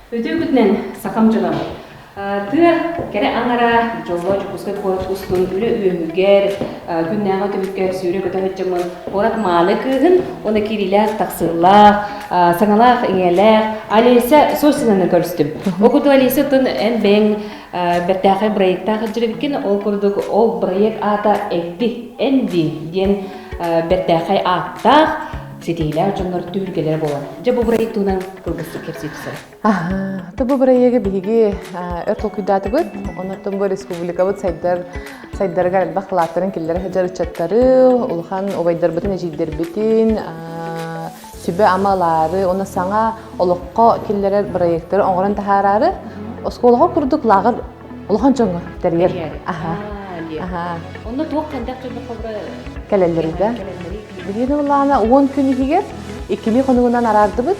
Үтүөкүтүнэн сакам дьылам. Тыа кэрэ аңара Дьолло Дьокуускай куорат устун үлэ үөмүгэр күннээҕи түбүккэр сүүрэ көтө сытчымын куорат маалы кыыһын уна кирилээх тахсыылаах саҥалаах иҥэлээх Алиса Сосинаны көрүстүм. Ол курдук Алиса тын эн бэйэң бэртээхэй проекттаах илдьириккин, ол курдук ол проект аата эппи энди диэн бэртээхэй ааттаах ситиилээх дьоннор түһүлгэлэрэ буолар. Дьэ бу проект туһунан кылгастык кэпсии Тобу бырайыагы биһиги өр толкуйдаатыбыт, оннортон бу республикабыт сайдар сайдарыгар элбэх кылааттарын киллэрэ сылдьар ыччаттары, улахан убайдарбытын, эдьиийдэрбитин, сүбэ-ама ылаары, уонна саҥа олоххо киллэрэр бырайыактары оҥорон таһаараары, оскуолаҕа курдук лааҕыр улахан дьоҥҥо тэрийэр. Аһаа. Онно туох хандах дьоннор хобура кэлэллэрий да? Биһиги ыллаана уон күн иһигэр иккилии хонугунан араардыбыт.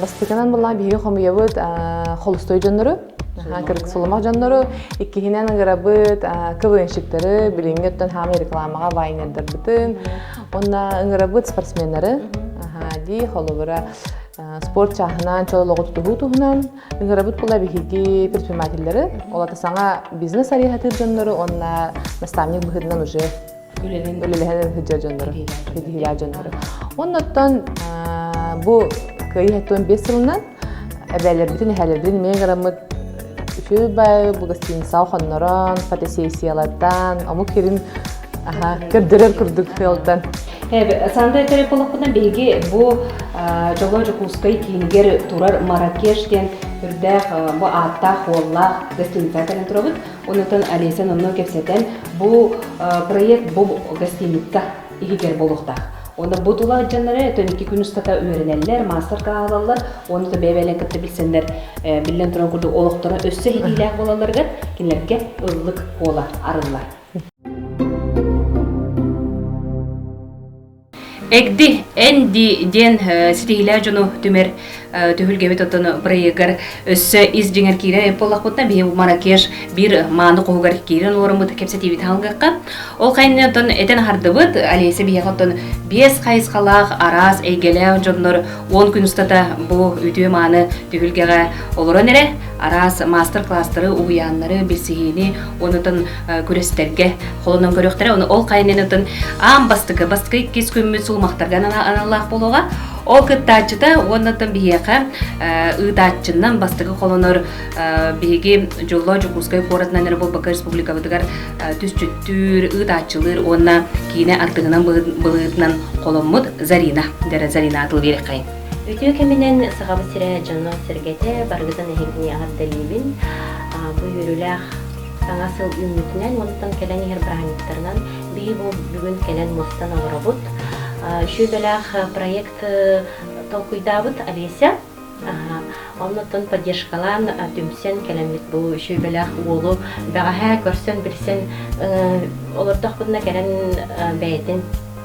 бастыытынан булла биһиги хомуйабыт холустой дьоннору кырык сулумах дьоннору иккиһинэн ыҥырабыт квнщиктары билиҥҥи оттон хаамай рекламаҕа вайнердарбытын онна ыҥырабыт спортсменнары дии холобура спорт чааһынан чололоҕутутуһуу туһунан ыҥырабыт була биһиги предпринимателлэри олата саҥа бизнес арыйаһатыыр дьоннору онна наставник быһыытынан уже үлэнэн үлэлэһэн сылдьар дьоннору ситиһиилээх дьоннору оннуттан бу кыайыы хаттуон биэс сылынан эбээлэрбитин эһээлэрбитин имээн граммыт үчү бай бу гостиницаҕа хоннорон фотосессиялартан омук кирин көрдөрөр курдук сыалтан Санда этэрэ болохпунан биһиги бу Дьоло Дьокуускай киинигэр турар Маракеш диэн үрдээх бу ааттаах уоллаах гостиницаға кэлэн турабыт Онон Олесян онно кэпсэтэн, бу проект бу гостиница иһигэр буолуохтаах. Онно бу тула дьоннары тон икки күн устата үөрэнэллэр, маастар-класс алаллар, оны то бэйбэлэн кытта билсэннэр биллэн туран курдук олохторо өссө иһиилээх буолалларыгар кинилэргэ ыллык буола арыллар. эгди эн дии диэн ситиһиилээх дьону түмэр түһүлгэбит оттон бырайыагар өссө ис дьиҥэр киирэр буоллахпытына биһи Маракеш биир мааны хоһугар киирэн уораммыт кэпсэтиибит аһалгахха ол хайынны оттон этэн аһардыбыт Олеся биһиэхэ оттон биэс хайысхалаах араас эйгэлээх дьоннор уон күн устата бу үтүө-мааны түһүлгэҕэ олорон эрэ араас маастар-класстары уһуйааннары билсиһиини онутан күрэстэргэ холонон көрүөхтэрэ оны ол хайынан ытын аам бастыкы бастыкы иккис күммүт сулумахтарга аналлаах болуга ол кыттааччыта уоннаттан биһиэхэ ыытааччыннан бастыкы холонор биһиги дьолло Дьокуускай куоратынан эрэ буолбакка республикабытыгар түсчүттүүр ыытааччылыыр уонна киинэ артыһынан былыытынан холоммут Зарина дэрэ Зарина атыл берехай Үтүө кэминэн Сахабыт сирэ дьоно-сэргэтэ баргытын эһигини аҕардалиибин. Бу үөрүүлээх Саҥа сыл үүммүтүнэн мустан кэлэн иһэр бырааһынньыктарынан биһи бу бүгүн кэлэн мустан олоробут. Сүөдэлээх проект толкуйдаабыт Олеся. Оннуттан поддержкалаан түмсэн кэлэммит бу сүөбэлээх уолу бэҕэһээ көрсөн-билсэн олордохпутуна кэлэн бэйэтин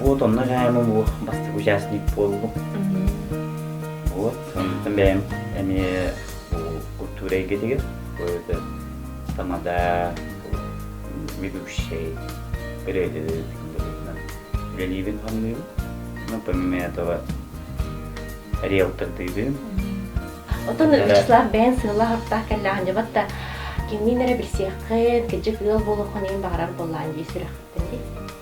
Вот онно дьаһайма бу бастакы участник буоллум. Вот, онтон бэйэм эмиэ культура эйгэтигэр это тамада ведущий передают үлэлиибин хамныыбын ну помимо этого риэлтордыыбын Оттон ыччалар бэйэн сыаллаахтаах кэллэҕин дьабат да кимниин эрэ билсиэххит кыдьык ыал буолуоххун иһин баҕарар буоллаан дии сүрэхтэн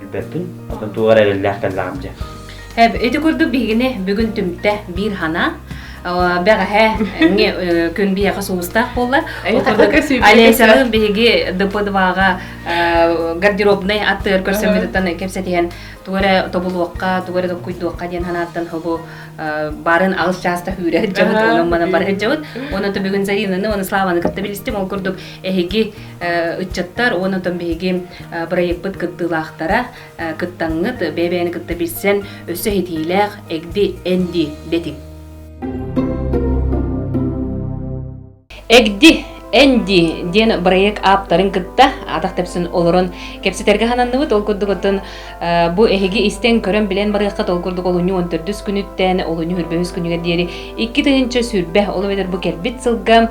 Билбэппин, оттон туох эрэ эрэллээх кэллэҕим дьэ. Эб, ити курдук биһигини бүгүн түмтэ биир санаа. Бэҕэһээ күн биһиэхэ сулустаах буоллар. Олеся биһиги ДП-2-га гардеробнай аттыгар көрсөммүтүттэн кэпсэтиһэн тугу эрэ тобулуохха, тугу эрэ толкуйдуохха диэн санааттан бу барын алыс чаастах үүрэр дьабыт, онон манан бара сылдьабыт. Оны бүгүн Заринаны, оны Славаны кытта билистим. Ол курдук эһиги ыччаттар уонна оттон биһиги бырайыкпыт кыттыылаахтара кыттаҥҥыт бэйэ-бэйэни кытта билсэн өссө иһитиилээх эгди энди бэтик эгди Энди диэн бырайыак ааптарын кытта атах тэпсэн олорон кэпсэтэргэ хананныбыт ол курдугутун бу эһиги истэн көрөн билэн барыахха ол курдук олунньу он төрдүс күнүттэн олунньу үрбөмүс күнүгэр диэри икки тыһыынча сүүрбэ ол эбэтэр бу кэлбит сылга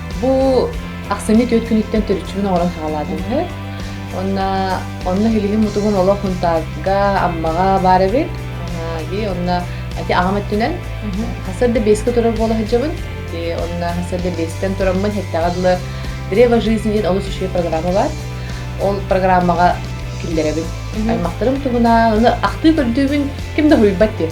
Бу ахсынньы түөрт күнүттэн төрүччүбүн оҥорон саҕалаатым үһү. Онно онно Хилиһим мутугун олох Мунтаарга, Аммаҕа баар эбит. Онно ити аҕам өттүнэн сарда бэска турар буола сылдьабын. Онно сарда бэстэн тураммын эттэҕэ дылы Древо жизни диэн олус үчүгэй программа бар. Ол программаҕа киллэрэбин. Аймахтарым туһунан аны ахтыы көрдүүбүн ким да суруйбат диэн.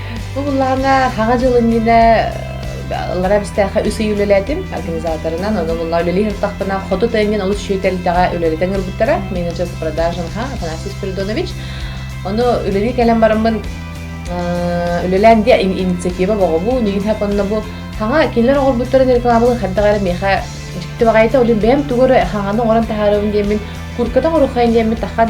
Бу буллаҕына Хаҕа дьылынньына ыллара бистээхэ үс ый үлэлээтим организаторынан, ону булла үлэлии ыртахпына хоту тыаҥҥын олус шүүйтэлдэҕэ үлэлэтэн ырбыттара, менеджер с продажен ха Афанасий Спиридонович. Ону үлэлии кэлэн бараммын үлэлээн диэ инициатива боҕобу, нигин хапанна бу хаҥа кинилэр оҕорбуттарын рекламалын хардах эрэ миэхэ дьиктибаҕайта олин бэйэм тугары хаҥаны оҥорон таһаарабын диэммин курката оҥоруххайын диэммин тахан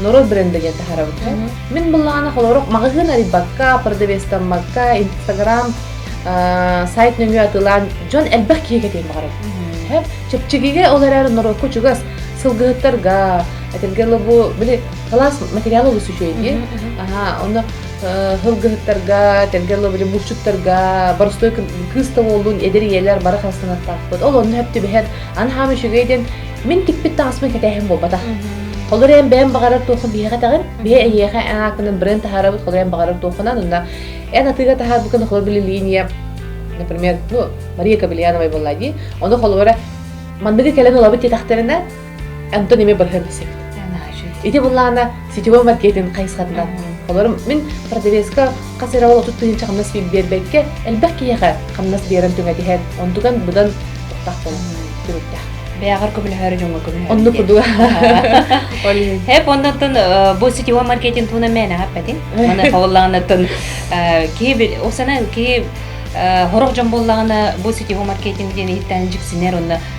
норуот бренда диэн таһарабыкка мин былаанах олорох магазин арыйбакка продавестаммакка инстаграм сайт нөҥү атылаан дьон элбэх киһиге тиэн баҕарабын чэпчигиге ол эрэр норуокку чугас сылгыһыттарга этэргэ лобу били кылаас материал олус үчүөйди ону хылгыһыттарга этэргэ лобу булчуттарга боростой кыыс тоболлун эдэр ийэлэр бара халстанаттаахпыт ол онну хэптибэһэт ан хаам үчүгэй ден Мин тикпит таҥаспын кэтэһим буолбата. Холор эн бэйэм баҕарар туоххун биһиэхэ тэҕин, биһи эйиэхэ эн ааккынан брэнд таһаарабыт, холор эн баҕарар туоххунан, онно эн атыыга таһаарбыккын холор били линия, например, ну, Мария Кобельяновай буолла дии, ону холобура манныгы кэлэн олобут диэтэхтэринэ, Антон эмиэ барыһан билсэбит. Ити буллаана сетевой маркетинг хайысхатынан. Олорум мин противеска хас эрэ ол отут тыһыынча хамнас биэрбэккэ элбэх киһиэхэ хамнас биэрэн түҥэтиһэн, онтуган быдан тохтоох буолар түрүттээх. Бэйэҕэр көмөлөһөрө дьоҥҥо көмөлөһөрө. Оннук курдук. Хэп оннуттан бу сетевой маркетинг туһунан мээнэ эппэтин. Маны хабыллаҕынаттан киһи ол сана киһи Э, хорох дьон буоллаҕына бу сетевой маркетинг диэн иһиттээн дьиксинэр онно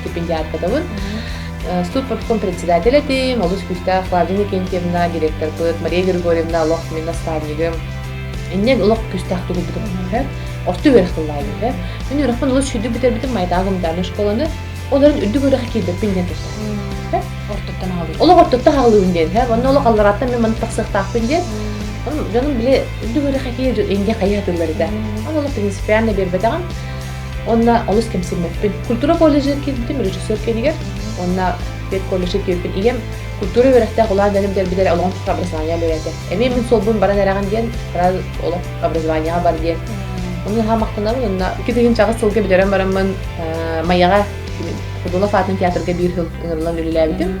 стипендиатпытыбыт. Студпропком председатель этим, олус күүстээх Клавдия Никентьевна, директорпыт, Мария Григорьевна олох мин наставнигым. Иннен олох күүстээх тугубутум бэһэр. Орто үөрэх тыллаай бэһэр. Мен үөрөхпүн олус шүйдү бүтэрбитим майтаагым дааны школаны. Оларын үрдүк үөрэхи киирбиппин диэн туссам. Ортоттан аҕалыыбын. Олох ортоттан аҕалыыбын диэн һэ. Онно олох аллараттан мен маны тахсыахтаахпын диэн. Дьонум биле үрдүк үөрэхи киир инде хайа тыллары да. Аны олох принципиально бербетаҕым. Онна олус кэмсиммэппин. Культура колледжын киирдим режиссер кэнигэр. Онно колледжы киирбин ийэм культура үөрэхтээх улахан бэлэмдэрбит эрэ олоҕун образование бэйэтэ. Эмиэ мин суолбун баран эрэҕин диэн бары олох образованиеҕа бар диэн. Оны хааммакканабын онно икки тыһыынчаҕыс сылга бүтэрэн бараммын Майаҕа Худолов аатын театрга биир сыл ыҥырылан үлэлээбитим.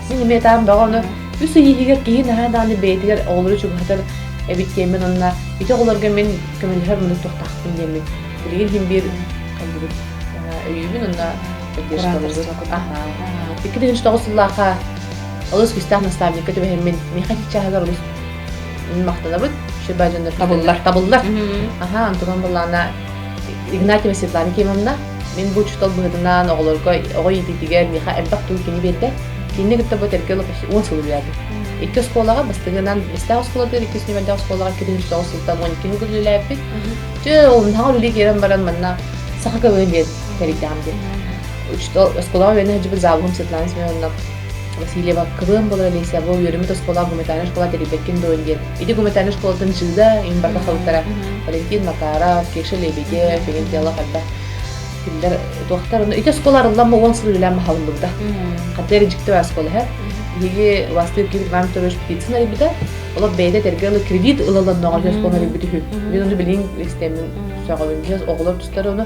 Симиэтаан бөҕөнө үс ый иһигэр киһи наһаа дааны бэйэтигэр оҕолору чугаһатар эбит диэммин онно ити оҕолорго мин көмөлөһөр мунук тохтаахпын диэммин билигин иһин биир хайдыбыт өйүүбүн онно Икки тыгынч тоҕус сыллаахха олус кистээх наставникка түбэһэммин миэхэ чааһыгар олус махтанабыт шиба дьоннор табыллар табыллар аха антон баллана Игнатьева Светлана Кимовна Мин бу учуутал быһыытынан оҕолорго оҕо иитиитигэр миэхэ элбэх тыл кини биэрдэ. Кинини кытта бу этэргэ олох уон сыл үлэлээбит. Икки оскуолаҕа бастыгынан Бэстээх оскуолатыгар, иккис нөмэрдээх оскуолаҕа киһи тоҕус сылтан он икки күн үлэлээбиппит. Дьэ, ол саҥа үлэ киирэн баран манна саха көмөтүн биэрэн тэрийдэҕим диэн. Учуутал оскуолаҕа үөрэнэ сылдьыбыт Заавуһум Светлана Семеновна Васильева кылыам буолан Олеся бу үөрэммит оскуолаҕа гуманитарнай школа тэрийбэккин дуон диэн ити гуманитарнай школатын Жида иһин барда халыттара Валентин Макаров, Кеша Лебеде, Ферентиалла хайдах кинилэр туохтар онно ити оскуола арыллан бу уон сыл үлээн баһаллыбыта хатыар дьикти оскуола иһэ биһиги властык Ким Иван Вторович Птицын арыйбыта олох бэйэтэ тергер ылы кредит ылаланнаҕа оскуола арыйбыт үһү мен оны билин истэммин сөҕөбүн оҕолор тустары оны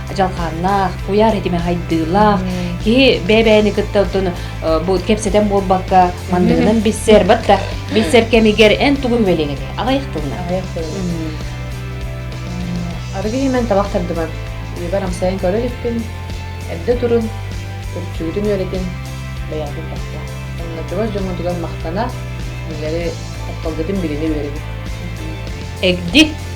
дьалхааннаах, куйаар этимэ хайдыылаах, киһи бэбээни кытта оттон бу кэпсэтэн буолбакка мандыгынан билсэр, батта билсэр кэмигэр эн тугун үөлең эти аҕайах тылынан аҕайах тылынан арыгы иһимэн табах тардыбар үбэр амсайын көрө иликпин эрдэ турун үрчүүтүн үөрэтин бэйээтин тахта оннотугар дьоҥҥутугар махтана үлэри тапталгытын билини үөрэтин эгди